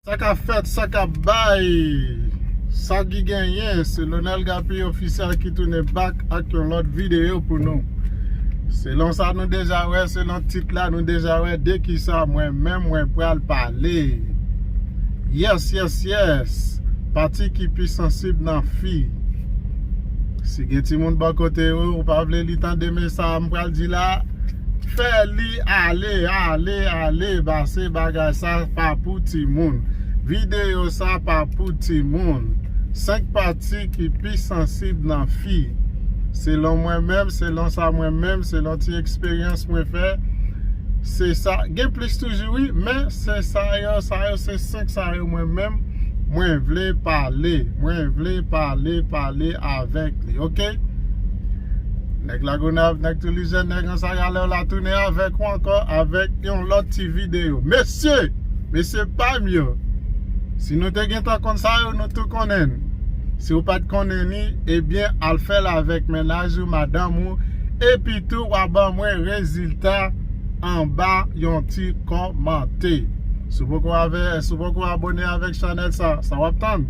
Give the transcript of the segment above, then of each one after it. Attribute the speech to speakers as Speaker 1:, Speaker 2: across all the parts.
Speaker 1: Sa kap fèt, sa kap bay, sa ki genyen se Lonel Gappy Official ki tounen back ak yon lòt videyo pou nou. Selon sa nou deja wè, selon tit la nou deja wè de ki sa mwen menm mwen pral pale. Yes, yes, yes! Pati ki pi sansib nan fi. Si gen timoun bò kote ou, ou pa vle li tande men sa m pral di la, fè li ale, ale, ale base bagay sa pa pou timoun. Videyo sa pa pou timoun. 5 pati ki pi sansib nan fi. Selon mwen menm, selon sa mwen menm, selon ti eksperyans mwen fè, se sa, gen plis toujou wi, men se sa yo, sa yo se. 5 sa yo mwen menm mwen vle pale mwen vle pale pale avèk li ok nèg lagonav nèg tilizè nèg ansagalè la tounen avèk ou ankò avèk yon lòt ti video mesye mesye pam yo si nou te gentan konn sa yo nou tou konnen n si ou pat konnen ni ebyen al fèl avèk mennaj ou madanm ou epitou wa ban mwen rezilta anba yon ti kòmante. Si w poko ave, si w poko abone avèk chanèl sa, sa wap tann?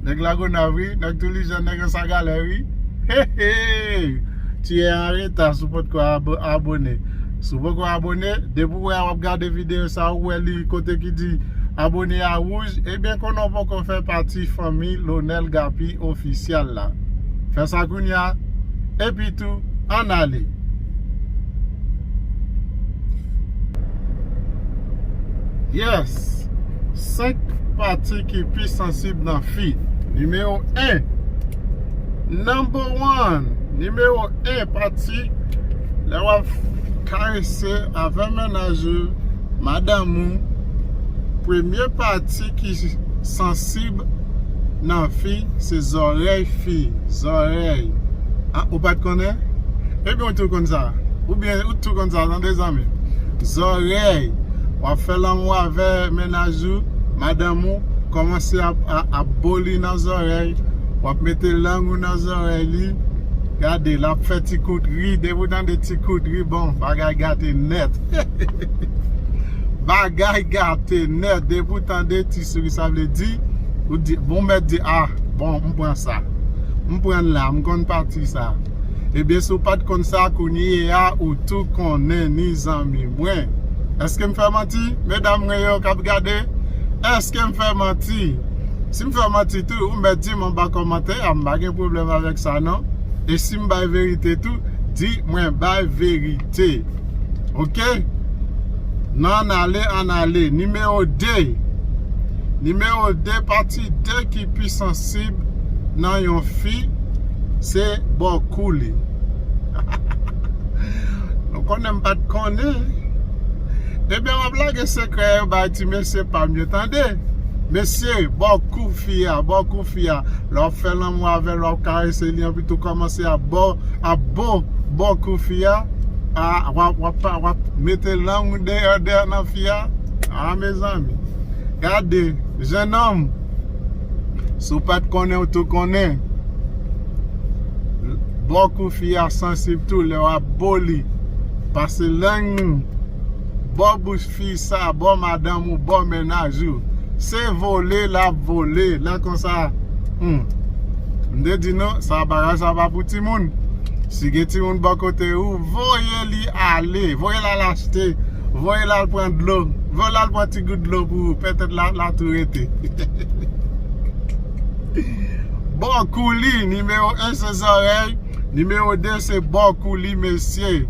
Speaker 1: Nèg Lagonav wi, nèg Toulijèn, nèg Ansagalè wi. Hehee! Tu es en retard si w potko abone. Si w poko abone, depi w wè a wap gade videyo sa, ou wè li kote ki di abone a wouj, ebyen konnen w poko fè pati fanmi Lonel Gapi Official la. Fè sa kounya, epi tou, ann ale! Yes! 5 pati ki pi sansib nan fi. Nimewo 1 Number one Nimewo 1 pati lè wap karese avè mennaj ou, madanm ou, premye pati ki sansib. nan fi se zòrèy fi zòrèy ah ou pat konnen ebyen ou tou konn sa ou byen ou tou konn sa tande zanmi zòrèy wap fè lanmou avè mennaj ou madanm ou kòmanse ap bo li nan zòrèy wap mete lang ou nan zòrèy li gade lap fè ti kout ri depi ou tande ti kout ri bon bagay gate nèt hehehe bagay gate nèt depi ou tande ti. Se ki sa vle di, ou di, bon mèt di ah bon m pran sa. M pran l la, m konn pati sa. Ebyen si w pa t konn sa kounye a ou tou konnen ni zanmi mwen. Eske m fè manti? Medam mwen yo k ap gade, eske m fè manti? Si m fè manti tou, ou mèt di m anba kòmantè a, m pa gen pwoblèm avèk sa non. E si m bay verite tou, di mwen bay verite. ok nan ale an ale nimewo 2 nimewo 2 pati 2 ki pi sansib nan yon fi se bò kou li hahaha nou konnen m pat konnen ebyen map lage sekrè yo bay ti mesye pam yo tande mesye bò kou fi a bò kou fi a lè wap fè lanmou avèl wap karese li anpi tou kòman. Pastè ap baw ap bo baw kou fi a ahh wap mete lang ou deyò deyò nan fi a ahh mezanmi gade jenòm si w pat konnen w tou konnen bo kou fi a sansib tou lè wap bo li pase lang ou bo bouch Fi sa bo madanm ou bo mennaj ou se vole lap vole lè konsa humm m te di nou sa bagay sa pa pou timoun si gen timoun bo kote ou voye li ale voye l al achte voye l al pran dlo voye l al pran ti gout dlo pou ou pètèt la tou rete bo kou li nimewo 1 se zòrèy. Nimewo 2 se bò kou li mesye.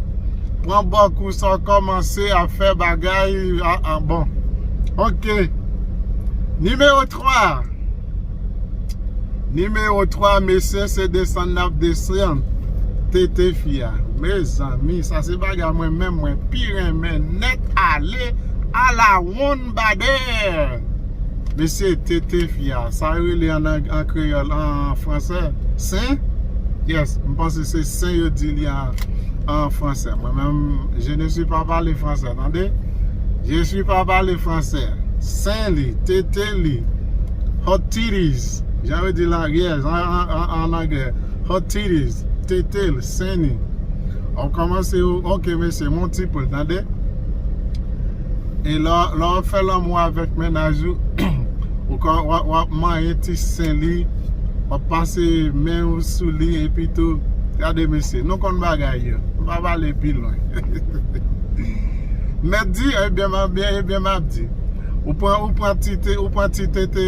Speaker 1: Pran bò kou sa w kòmanse ap fè bagay aa bon ok. Nimewo 3 Nimewo 3 mesye se desann nap desann tete fi a mezanmi sa se bagay mwen menm mwen pi renmen nèt ale ala wonn. Lambadère! Mesye, TT fi a. Sa yo rele an ang, an kreyòl, an fransè? Sen? Yes, m panse se sen yo di li an, an fransè. Mwen menm, je ne suis pas parler français, tande! Je suis pas parler français. Sen li, TT li, hot titties, jan yo di l an, yes, an anglè. Hot titties, TT l, sen li. Ou kòmanse ou, ok mesye, m on ti poul, tande! E lè wap fè lanmou avèk mennaj ou, ou ka wap manyen ti sen li, wap pase men ou sou li epi tou, gade mesye, nou konn bagay yo, m pa pale pi lwen. Mèt di, ebyen map di, ou pran ti tete,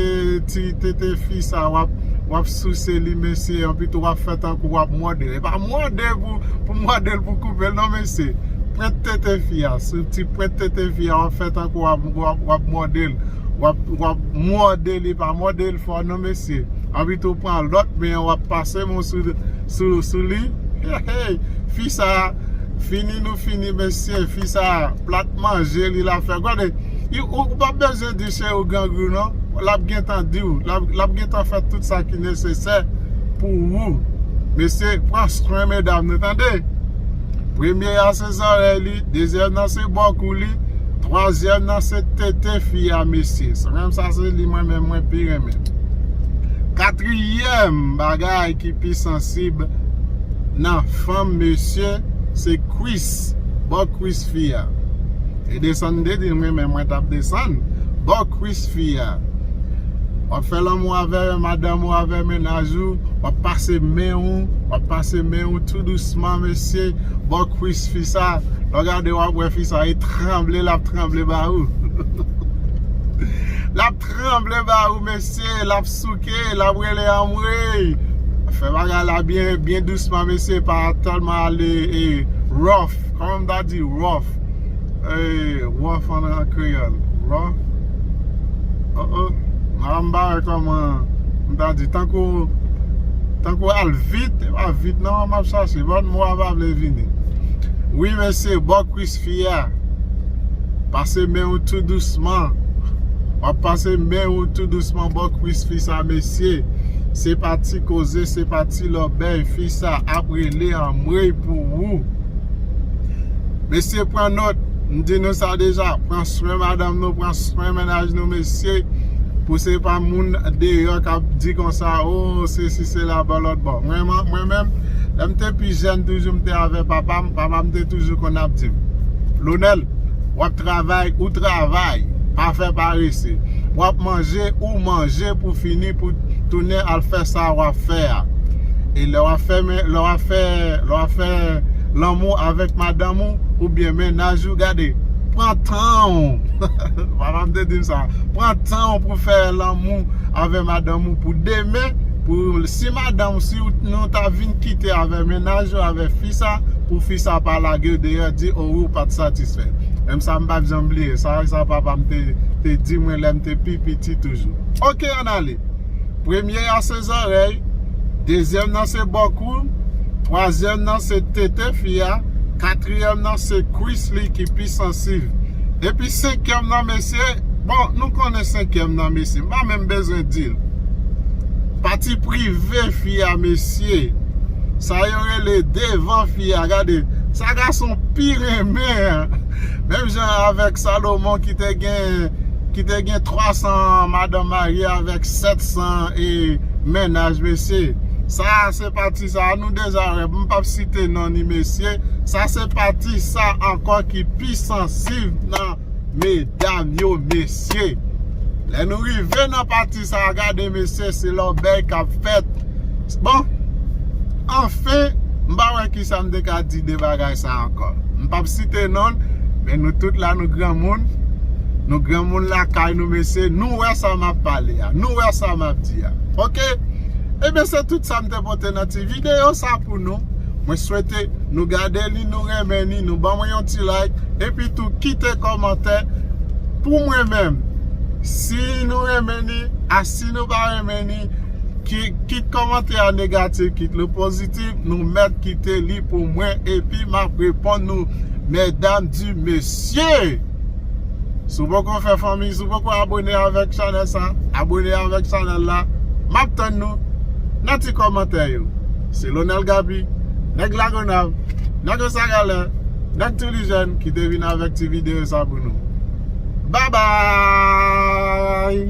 Speaker 1: ti tete fi sa wap souse li mesye, epi tou wap fè tankou wap mòde l, e pa mòde pou mòde l pou koupe l non mesye. pwent tete fi a, sou ti pwent tete fi a wap fè tankou wap mòde l, wap mòde li, pa mòde l fò non mesye, anpito w pran lòt men an wap pase men w sou li, heyy fi sa fini nou fini mesye, fi sa plat manje li la fè, gade ou pa bezwen di cheri w grangou non, lap gentan di w, lap gentan fè tout sa ki nesesè pou ou, mesye pran swen medam nou tande. Premye a se zòrèy li, dezyèm nan se bò kou li, twazyèm nan se tete fi a mesye. Se menm sa se li mwen menm mwen pi renmen. Katriyèm bagay ki pi sansib nan fanm mesye se kwis, bò kwis fi a. E desann m te di l mwen menm mwen tap desann bò kwis fi a. Wap fè lanmou avè madanm ou avè menaj ou. wap pase men ou wap pase men ou tou dousman mesye bò kwis fi sa lè w gade wap wè fi sa e tranble lap tranble ba ou lap tranble ba ou mesye lap souke lap rele anmweyy fè bagay la byen dousman mesye pa tèlman ale rough kòman m ta di rough Eeyy rwa fann an kreyòl rwa oh oh la m bare kòman m ta di tankou tankou al vit e pa vit non m ap chache bon mo a pa vle vini wi mesye bò kwis fi a pase men w tou dousman w ap pase men w tou dousman bò kwis fi sa mesye se pa ti koze se pa ti lòbèy fi sa ap rele anmweyy pou ou. Mesye pran nòt, m di nou sa deja, pran swen madanm nou, pran swen mennaj nou mesye, pou se pa moun deyò k ap di konsa o se si se la bò lòt bò. Mwen menm, lè m te pi jèn toujou m te avè papa m, papa m te toujou konn ap di m, Lonel, w ap travay, ou travay, pa fè parese, w ap manje, ou manje pou fini pou. Tounen al fè sa w ap fè a. E lè w ap fè men, lè w ap fè, lè w ap fè lanmou avèk madanm ou oubyen mennaj ou, gade, pran tan w, papa m te di m sa, pran tan w pou fè lanmou avè madanm ou pou demen, pou si madanm ou, si nou ta vin kite avè mennaj ou, avè fi sa, pou fi sa pa lage w deyò, di o ou pa t satisfè. Menm sa m pa p janm bliye sa, sa papa m te di mwen lè m te pi piti toujou. Ok, ann ale. Premye a se zòrèy, dezyèm nan se bò kou l, twazyèm nan se tete fi a, katriyèm nan se kwis li ki pi sansiv. Epi senkyèm nan mesye, bon nou konnen senkyèm nan mesye, m pa menm bezwen di l. Pati prive fi a mesye, sa yo rele devan fi a, gade sa gason pi renmen an. Menm jan avèk Salomon ki te gen ki te gen 300 madanm marye avèk 700 e mennaj mesye sa a se pati sa a nou deja wè m pap site non ni mesye sa se pati sa ankò ki pi sansiv nan medam yo mesye lè nou rive nan pati sa a gade mesye se lòbèy k ap fèt bon anfen m pa wè kisa m te ka di de bagay. sa ankò m pap site non l men nou tout la nou granmoun nou granmoun lakay nou mesye nou wè sa map pale a nou wè sa map di a ok ebyen se tout sa m te pote nan ti video sa pou nou mwen swete nou gade li nou renmen li nou ban mwen yon ti like epi tou kite kòmantè pou mwen menm si nou renmen li a si nou pa renmen li kit kòmantè a negatif kit li pozitif. Ti nou mèt kite li pou mwen epi map reponn nou medam di mesye! Si w poko fè fanmi, si w poko abone avèk chanèl sa, abone avèk chanèl la, map tann nou nan ti kòmantè yo. Se Lonel Gaby, nèg Lagonav, nèg Ansagalè, nèg Tulijen ki te vin avèk ti videyo sa pou nou. Babay!